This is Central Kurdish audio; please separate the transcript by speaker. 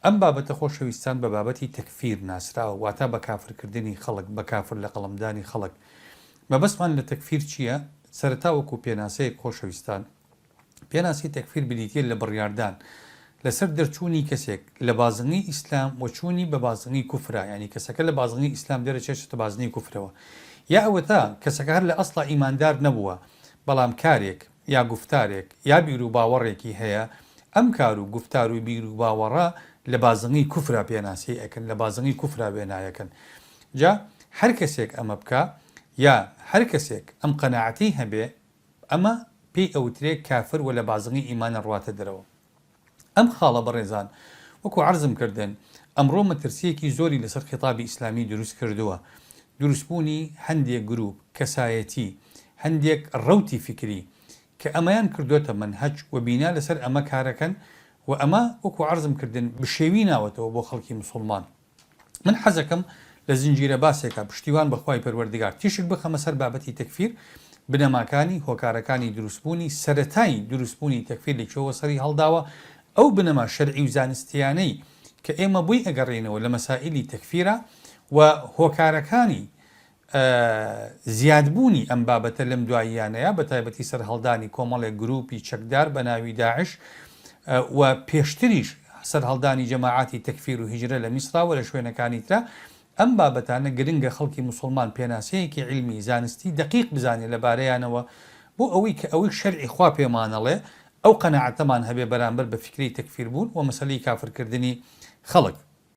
Speaker 1: ئەم بابەتە خۆشەویستان بە بابەتی تەکفیر ناسراوە واتا بە کافر کردنی خەڵک بە کافر لە قەڵەم دانی خەڵک مەبەستمان لە تەکفیر چیە سەرەتا وەکو پێناسەیەک خۆشەویستان پێناسی تەکفیر بریتیە لە بڕیاردان لەسەر دەرچوونی کەسێک لە بازنەی ئیسلام و چوونی بە بازنەی کوفرا یانی کەسەکە لە بازنەی ئیسلام دەرەچێت چێتە بازنەی کوفرەوە یا ئەوەتا کەسەکە هەر لە ئەسڵا ئیماندار نەبووە بەڵام کارێک یا گوفتارێک یا بیروباوەڕێکی هەیە، ئەم کار و گوفتار و بیر و باوەڕە لە بازنەی کوفرا پێناسەی ئەکەن، لە بازنەی کوفرا وێنایەکەن. جا هەر کەسێک ئەمە بکا، یا هەر کەسێک ئەم قەناعەتەی هەبێ، ئەمە پێی ئەوترێ کافر و لە بازنەی ئیمانە ڕواتە دەرەوە. ئەم خاڵە بەڕێزان وەکو عەرزم کردن ئەمڕۆ مەترسیەکی زۆری لەسەر خیتابی ئیسلامی دروست کردووە دروست بوونی هەندێک گروپ کەسایەتی هەندێک ڕەوتی فیکری کە ئەمەیان کردۆتە مەنهەج و بینا لەسەر ئەمە کارەکەن و ئەمە وەکو عەرزم کردن بشێوی ناوەتەوە بۆ خەڵکی مسوڵمان. من حەزەکەم لە زنجیرە باسێکا پشتیوان بە خوای پەروەردگار تیشک بخەمە سەر بابەتی تەکفیر، بنەماکانی، هۆکارەکانی دروستبوونی، سەرەتای دروستبوونی تەکفیر لە کوێوە سەری هەڵداوە، ئەو بنەما شەرعی و زانستییانەی کە ئێمە بۆی ئەگەڕێینەوە لە مەسائیلی تەکفیرا و هۆکارەکانی زیادبوونی ئەم بابەتە لەم دواییانەیە بە تایبەتی سەرهەڵدانی کۆمەڵێک گرووپی چەکدار بە ناوی داعش و پێشتریش سەرهەڵدانی جەماعاتی تەکفیر و هیجرە لە میسرا و لە شوێنەکانی ترا ئەم بابەتانە گرنگە خەڵکی موسڵمان پێناسەیەکی عیلمی زانستی دەقیق بزانێ لەبارەیانەوە بۆ ئەوەی کە ئەوەی شەرعی خوا پێمانەڵێ ئەو قەناعەتەمان هەبێ بەرامبەر بە فیکرەی تەکفیربوون و مەسەلەی کافرکردنی خەڵک.